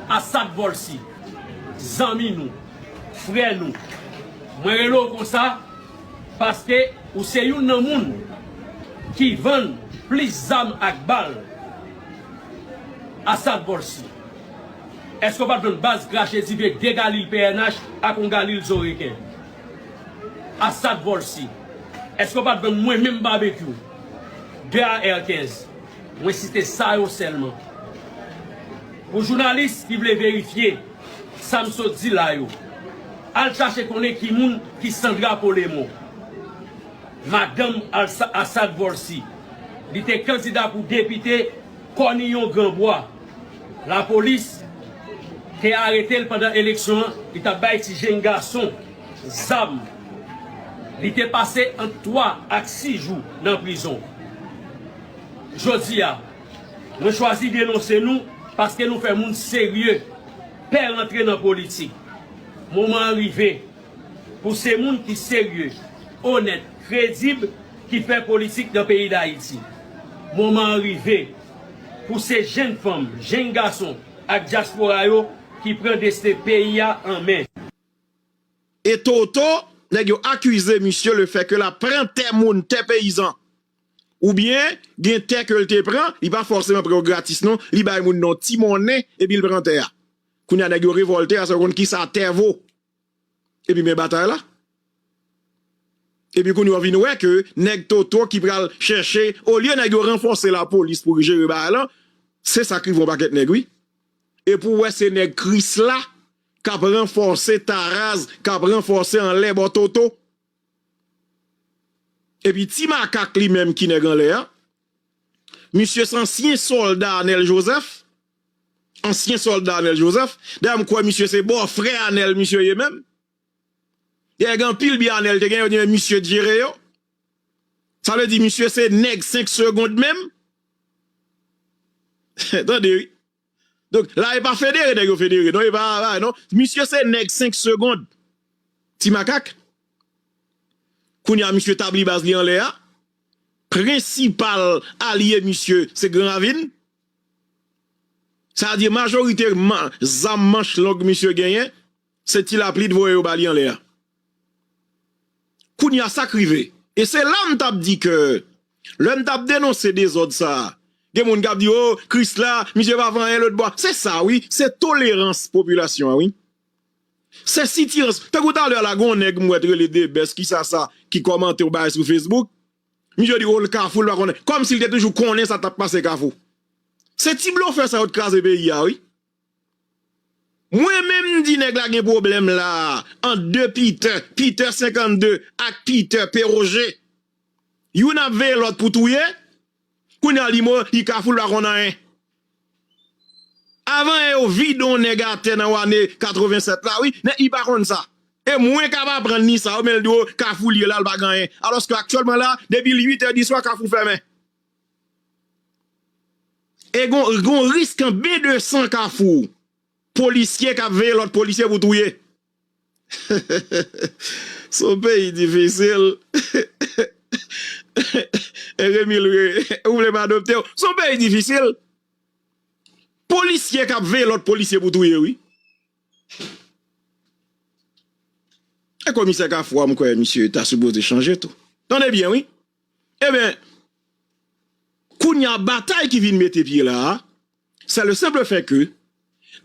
Asad Volcy, zanmi nou, frè nou, mwen rele w konsa paske ou se youn nan moun ki vann plis zam ak bal. Asad Volcy, èske w pa t vann baz krache dife 2 galil pnh ak on galil zo reken? Asad Volcy, èske w pa t vann mwen menm Babekyou 2 AR-15? Mwen site sa yo sèlman pou jounalis ki vle verifye sa m sot di la yo al chache konnen ki moun ki Sandra Polemon, madanm Assad Volcy. Li te kandida pou depite Kòniyon Granbwa. Lapolis te arete l pandan eleksyon an, li t ap bay ti jenn gason zam. Li te pase ant 3 ak 6 jou nan prizon. Jodi a, mwen chwazi denonse nou paske nou fè moun serye pè rantre nan politik. Moman an rive pou se moun ki serye, onèt, kredib ki fè politik nan peyi Dayiti. Moman an rive pou se jenn fanm, jenn gason ak dyaspora yo ki pran desten peyi a an men. E toto, nèg yo akize misye le fè ke l ap pran tè moun, tè peyizan. Ou byen gen tè ke l te pran, li pa fòseman pran yo gratis non, li bay moun nan ti monnen epi l pran tè a. Kounye a nèg yo revòlte ase yo konn kisa tè vo. Epi men batay la. Epi kounye a w vin wè ke nèg Toto ki pral chèche, olye nèg yo ranfòse lapolis pou jere bagay lan, se sa k rive yon pakèt nèg wi. Epi w wè se nèg Krisla k ap ranfòse Taraz, k ap ranfòse anlè bò Toto. Epi ti makak li menm ki nèg anlè a, misye se ansyen sòlda Anèl Jozèf, ansyen sòlda Anèl Jozèf, dayè m kwè misye se bò frè Anèl misye ye menm, dayè gen anpil byen Anèl te gen yo di men misye t jere yo, sa vle di misye se nèg 5 segond menm, tande wi. Donk la epa federe nèg yo federe non epa bagay non misye se nèg 5 segond ti makak kounya misye tabli baz li anlè a prensipal alye misye se gran ravin sa vle di majorite zam manch long misye genyen. Se ti lapli t voye yo bali anlè a kounya sak rive e se la m tap di ke lè m tap denonse dezòd sa gen moun kap di oh krisla misye pa fè anyen lotbò a se sa wi se tolerans popilasyon an wi se sitirans tankou talè a la gen yon nèg m wè t rele debès kisa sa ki kòmante yon bagay sou facebook misye di oh l kafou l pa konnen kòmsi l te toujou konnen sa tap pase kafou se ti blofè sa yo t kraze peyi a wi. Mwen menm m di nèg la gen pwoblèm la a ant 2 Pitè, Pitè 52 ak Pitè Peroje. Youn ap veye lòt pou touye, kounye a li mò, li kafou, li pa konn anyen. Avan yè yo vide on nèg atè nan ane 87 la wi, nèg li pa konn sa. E mwen k ap aprann li sa yo men l di w kafou l ye la, l pa gen anyen. Alòske aktyèlman la a, depi l 8 è di swa kafou fèmen. E gon risk an be de san kafou polisye kap veye lot polisye pou touye hehehehe son peyi difisil hehehehe remil ou vle m adopte w son peyi difisil polisye kap veye lot polisye pou touye wi e komisè kafou a m kwe misye ta sipoze chanje tou tande byen wi Ebyen, kounya batay ki vin mete pye la a, sè le senple fè ke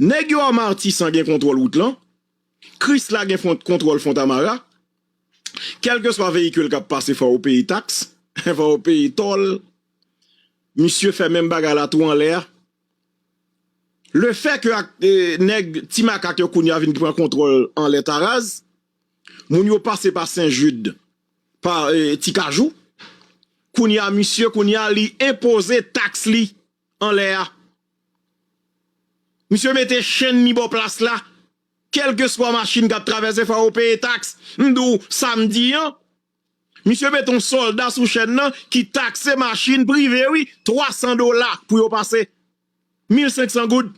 nèg yo a Martissant gen kontwòl wout lan, Krisla gen kontwòl Fontamara, kèlkeswa veyikil k ap pase fò ou peye taks, fò ou peye tòl, misye fè menm bagay la tou anlè a. Le fè ke ak nèg ti makak yo kounya vin pran kontwòl anlè taraz, moun yo pase pa Sen Jid, pa ti kajou kounya misye kounya li enpoze tax li anlè a misye mete chenn li bò plas la kelkeswa machin kap travèse fò yo peye tax mdou samdi an misye met yon solda sou chenn nan ki takse machin prive wi 300 dola pou yo pase 1500 goud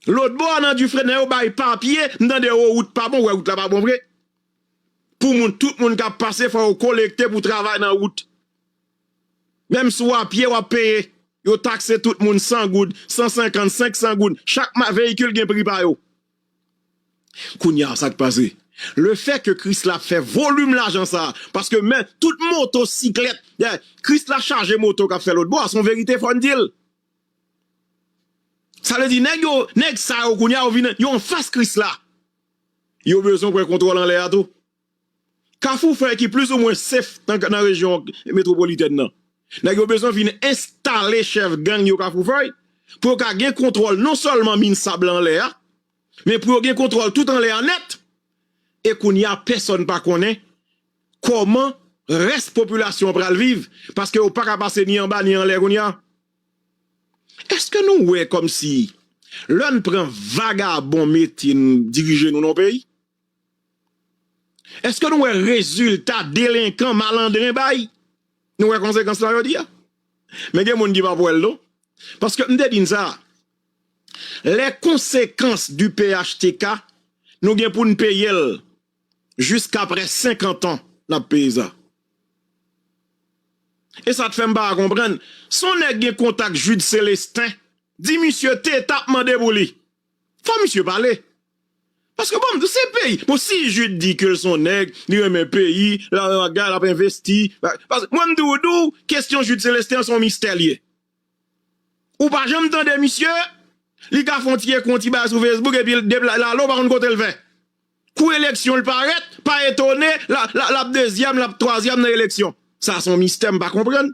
lotbò nan dufresne yo bay papye mtande yo wout pa bon wè wout la pa bon vre. pou moun tout moun kap pase fò yo kolekte pou travay nan wout menm si w a pye wap peye yo takse tout moun 100 goud 150 500 goud chak ma veyikil gen pri pa yo kounya sak pase le fè ke Krisla ap fè volim lajan sa paske men tout moto siklèt Krisla chaje moto kap fè lotbo a son verite fò n dil sa vle di nèg yo nèg sa yo kounya yo vin yo anfas Krisla. Yo bezwen pran kontwòl anlè a tou. Kafou fè ki plis ou mwen sef nan rejyon metwopolitèn nan. Nèg yo bezwen vin enstale chèf gang yo kafou fèy pou yo ka gen kontwòl non sèlman min sab la anlè a men pou yo gen kontwòl tout anlè a nèt e kounye a pèsòn pa konnen kòman rès popilasyon an pral viv paske yo pa ka pase ni anba ni anlè kounye a. Eske nou wè komsi lè n pran vagabon mete n dirije nou nan yon peyi? Eske nou wè rezilta delenkan malandren bay? Nou wè konsekans la jodi a? Men gen moun ki pap wè l non. Paske m te di n sa, lè konsekans di phtk nou gen pou n peye l jiskaprè 50 ans lap peye sa e sa t fèm pa konprann si yon nèg gen kontak Jude Celestin di misye te tap mande pou li fò misye pale paske bon m se peyi bon si Jude di ke l s on nèg li renmen peyi lalala lap envesti paske mwen m tou di w kesyon Jude Celestin an s on mistè l ye ou pa janm tande misye li ka fon ti ekon ti bagay sou Facebook epi depi lalo ou pa konn kote l fè Kou eleksyon l parèt, pa etone l ap dezyèm, l ap twazyèm nan eleksyon. Sa se yon mistè m pa konprann.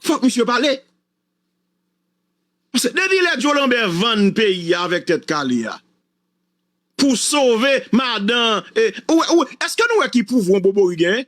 Fòk misye pale. Paske depi lè Joe Lambert vann peyi a avèk Tèt Kale a pou sove madan, eske nou wè ki pouvwa yon Bobori genyen?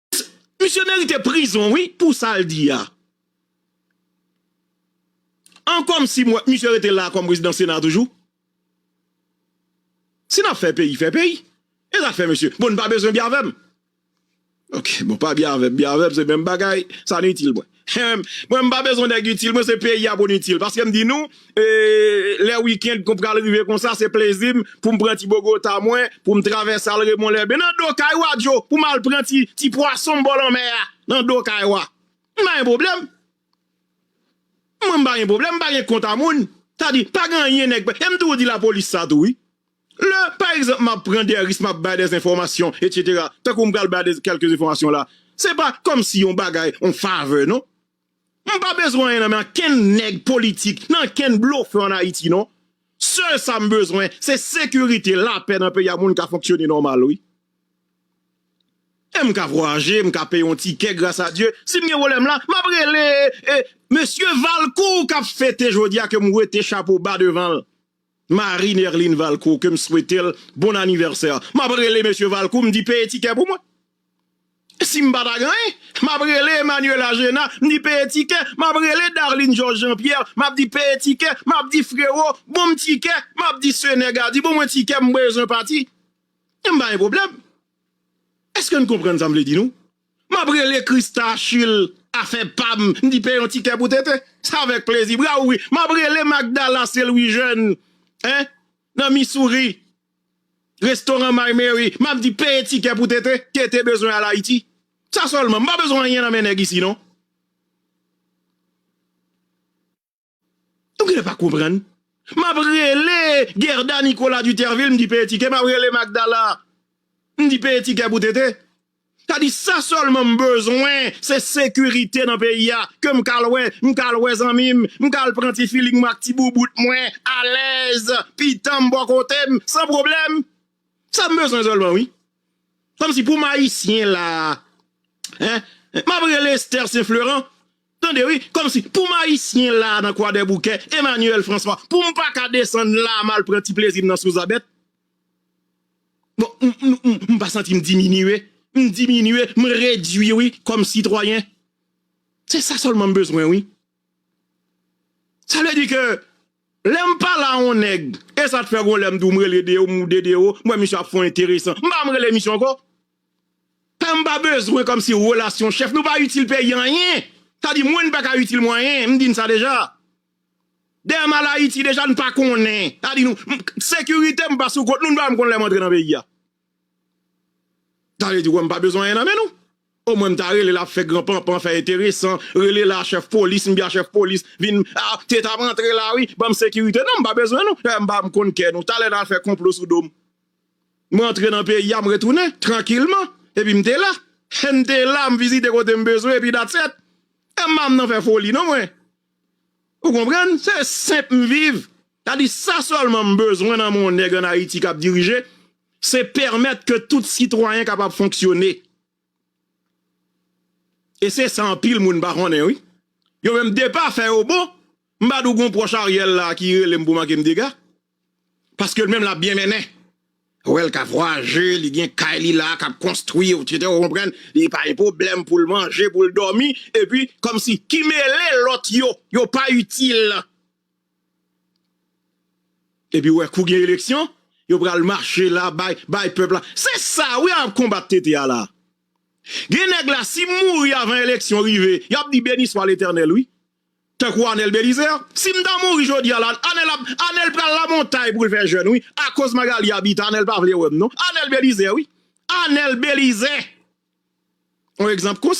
Misye merite prizon wi pou sal di a. An kom si m wè misye rete la kom prezidan sena toujou. Si nap fè peyi fè peyi. E zafè misye. Bon n pa bezwen bya vèm. Ok bon pa bya vèm bya vèm se menm bagay sa nou itil mwen. Hum mwen m pa bezwen nèg itil mwen se peyi a poun itil paske m di nou lè weekend kon pral rive konsa se plezi m poum pran ti bogota mwen poum travèse al remon lèbe nan do kay ou a djo poum al pran ti pwason m bò lanmè a nan do kay ou a m pa gen pwoblèm mwen m pa gen pwoblèm m pa gen kont a moun sa di pa gen anyen nèg e m toujou di lapolis sa tou wi Lè, pa egzanp, m ap pran dè risk, m ap bay dè enfòmasyon, etsetera, tankou m pral bay dè kèlke enfòmasyon la, se pa kòmsi yon bagay, yon favè non. M pa bezwen anyen nan men ankenn nèg politik, nan ankenn blofè an Ayiti non. Sèl sa m bezwen, se sekirite, lapè nan peyi a, moun ka fonksyone nòmal wi. E m ka vwayaje, m ka peye yon tikè, gras a Dye. Si m gen pwoblèm la, m ap rele e, mesye Valcourt k ap fete jodi a ke m wete chapo ba devan l. Marie Nerline Valcourt ke m swete l bon anivèsè m ap rele mesye Valcourt m di peye tikè pou mwen si m pa ta gen anyen m ap rele Emmanuela Gena m di peye tikè m ap rele Darline Georges Jean Pierre m ap di peye tikè m ap di Frero bon m tikè m ap di Sene Gardy bon mwen tikè m bezwen pati m pa gen pwoblèm èske n konprann sa m vle di nou? Map rele Christa Achille afè pam m di peye yon ti kè pou TT sa avèk plezi bra ouvri map rele Magdala Celwijèn hein nan Missouri restoran my Mary map di peye ti kè pou TT TT bezwen al Ayiti sa sèlman m pa bezwen anyen nan men nèg isi non. Ou genlè pa konprann. Map rele Guerda Nicolas Dutervil mdi peye tikè map rele Magdala mdi peye tikè pou tete. Sa di sa sèlman m bezwen se sekirite nan peyi a ke m kal wè m kal wè zanmi m m kal pran ti filing mwen ak ti boubout mwen alèz pitan m bò kote m san pwoblèm. Sa m bezwen sèlman wi. Kòmsi pou m ayisyen la a. Map rele Esther St Fleurant. Tande wi, kòmsi pou m ayisyen la a nan Kwadèboukè, Emmanuel François, pou m pa ka desann la a m al pran ti plezi m nan Souzabèt? Bon, m pa santi m diminye, m diminye, m redui wi kòm sitwayen. Se sa sèlman m bezwen wi. Sa vle di ke lè m pale a yon nèg, e sa te fè yon lè m di w m rele Deo, m di w Dedeo, m wè misye ap fè yon enteresan, m pa menm rele misye ankò. Tanm pa bezwen kòmsi relasyon chèf nou pa itil peyi anyen sa di mwen n paka itil mwen anyen m di n sa deja dèyè m al ayiti deja n pa konnen sa di nou sekirite m pa sou kont nou n pa menm konn lè m antre nan peyi a sa vle di kwè m pa bezwen anyen nan men nou omwen m ta rele la fè gran panpan fè enteresan rele la chèf polis m di a chèf polis vin a te ta m antre la wi banm sekirite non m pa bezwen nou dèyè m pa m konn kè nou talè n al fè konplo sou do m. M rantre nan peyi a, m retounen, trankilman, epi m te la. He, m te la, m vizite kote m bezwen, epi that's it. E m pa m nan fè foli non mwen. Ou konprann? Se senp m viv. Sa di sa sèlman m bezwen nan men yon nèg an Ayiti k ap dirije, se pèmèt ke tout sitwayen kapab fonksyone. E se sa anpil moun pa konnen wi. Yo menm depa fè yo bon, m pa di w gen yon pwòch Ariel la ki rele m pou manke m dega. Paske l menm lap byen mennen. Ou wè l ka vwayaje, li gen kay li la kap konstwi ou tcheke ou konprann, li pa gen pwoblèm pou l manje, pou l dòmi epi kòmsi ki mele lòt yo, yo pa itil. Epi ou wè kou gen eleksyon, yo pral mache la bay, bay pèp la. Se sa wi yap konbat tete a la. Gen nèg la si mouri avan eleksyon rive, yap di beniswa letènèl wi. Tankou Anel Belize a. Sim ta mouri jodia la Anel ap Anel pral la montay poul fè jèn wi akoz Magalie Habitat Anel pa vle wèm non Anel Belize wi Anel Belize on egzanp konsa.